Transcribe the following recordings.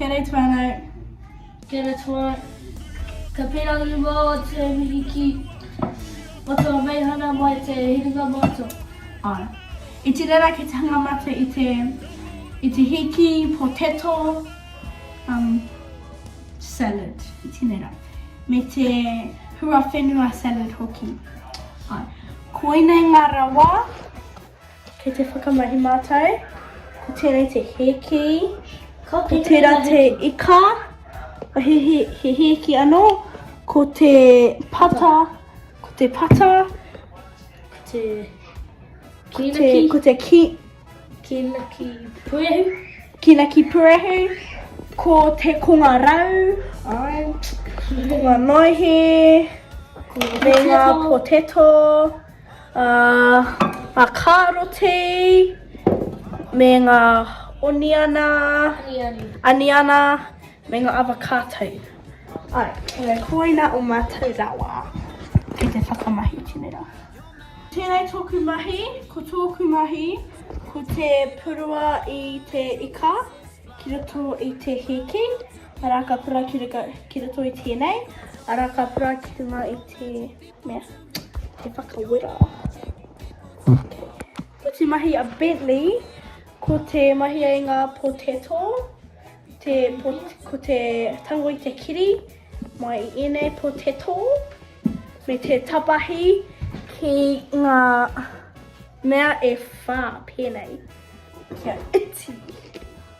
Kere tuanau, kere tuanau, ka pera nu wā o te mihi ki o tō Meihana mai te hiringa mātou. Ai. I te rera ki te hanga mate i te, i te hiki, potato, um, salad, i te rera. Me te hua whenua salad hoki. Ai. Koinei ngā rawa Kei te whakamahi mātou, ko tēnei te hēki, ko tērā te ika, he, he, he hēki anō, ko te pata, ko te pata, ko te kīnaki, ko te ki, kīnaki purehu, kīnaki purehu, ko te konga rau, ai, konga noihe, ko ngā poteto, Ngā kāroti me ngā oniana, aniana me ngā avocāto. Āe, koina o mātou rawa ki te whakamahi tinera. Tēnei tōku mahi, ko tōku mahi ko te purua i te ika ki roto i te hēki, arā ka purua ki roto i tēnei, arā ka purua ki runga i te. Mea, te whakawera. Ko te mahi a Bentley, ko te mahi a ngā potato, te pot, ko te tango i te kiri, mai i ēnei potato, me te tapahi ki ngā mea e whā pēnei. Kia iti.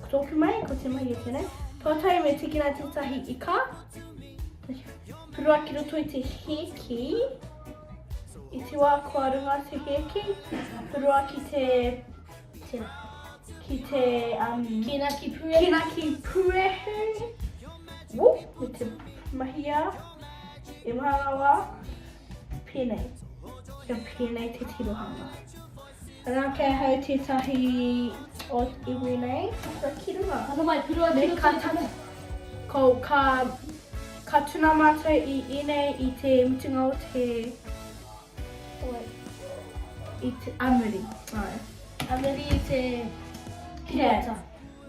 Ko tōku mai, ko te mai o tēnei. Pātai me tiki rā tētahi i kā. Rua ki roto i te hēki. I te wā kua runga te hēki. Rua ki te... Tēnā. Ki te... Um, kina ki puehu. Kina ki puehu. Woo, me te mahia. E maharawa. Pēnei. Kia pēnei te tirohanga. Ana ke ahau tetahi o iwi nei, tata ki runga. Tata mai ki runga. Me ka tata. Ko ka, ka tuna matou i enei i te mutunga o te, i te amuri. Ai. Amuri i te kiriata.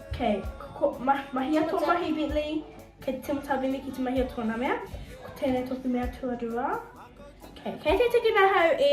Okay. Ko, ma, mahia tō mahi Bentley, kei te timata Bentley ki te mahia tōna mea. Ko tēnei tōku mea tuarua. Okay. Kei te tiki nahau e...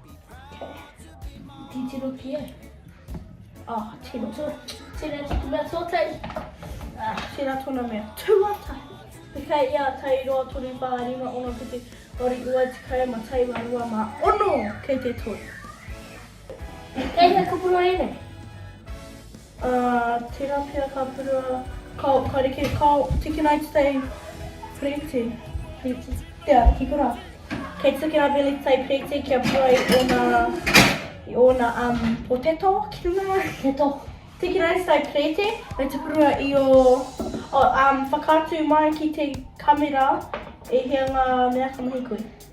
Titiro ki ai. Ah, tino tu. Tino tu mea tōtei. Ah, tira tona mea. Tuata. Te kai ia tai roa tonu pā rima ono ki te ori ua te kai ma tai wa rua ma ono kei te toi. Kei he kupuro ene. A tera pea ka purua. Kao, ka reke, kao, tiki nai te tei Preeti, Preeti, tea, kikora. Kei te tiki nga veli te tei Preeti kia purua i ona, i ona um, potato ki runga. Potato. Tiki nai te tei Preeti, me te purua i o, oh, um, whakaatu mai ki te camera e hia nga mea ka mahi koe.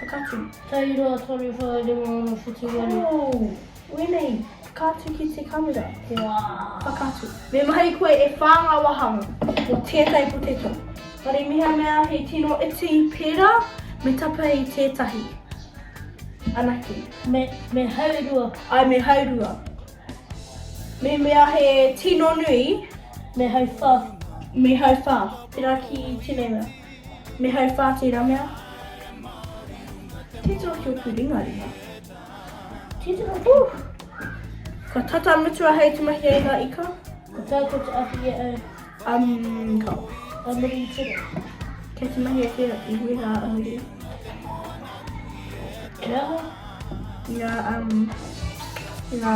Whakatu. Tau roa, toru, whai, rima, ono, whitu, waru. Ooh! Wenei, ka atu ki te kamera. Waaw! Whakatu. Me mahi koe e wha nga wahanga o tetai poteto. Whare miha mea he tino iti pera me tapa i tetahi. Anake. Me, me haurua. Ai me haurua. Me mea he tino nui. Me hau wha. Me hau wha. Tera ki tenei mea. Me hai wha ki Ramea. Titiro ki oku ringa ringa. Titiro ki. Ooh! Kua tata mutua hei te mahi ai nga ika. Ko tai ko te ahi e au. Umm ka. Ka muri i tiro. Kei te mahi ake i wera a muri. He aha? Nga umm nga.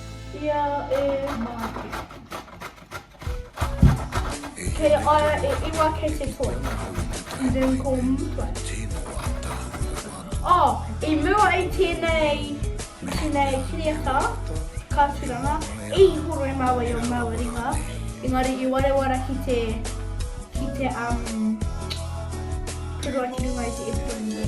Ia e Māti. Kei a ia e iwa kei te toi. I didn't call Mutai. Oh, i mua i tēnei, tēnei kiriata, ka turanga, i horo i māua i o māua ringa, engari i warewara ki te, ki te, um, purua ki runga i te epironi.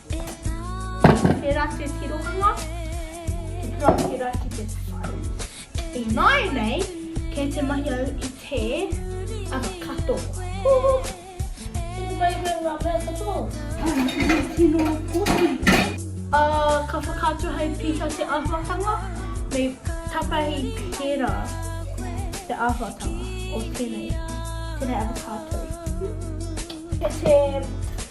He ratu ki ronua, he puakera ki te whare. Ināianei, kei te mahi au i te anga katoa. Huhu! Tino mahi koe ngā mea katoa. He tino poti. Ā, ka whakaatu hei piha te āhuatanga, me tapahi pērā te āhuatanga o tēnei, tēnei avocado. Huhu! He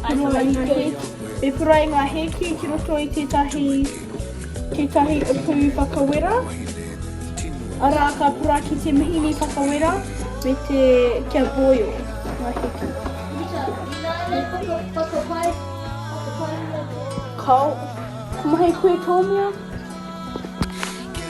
He puruainga He puruainga hēki ki roto i tētahi, tētahi uku whakawera, arā, ka pura ki te mihini whakawera me te kia boil ngā hēki. Kao, ko mahi koe tō mea?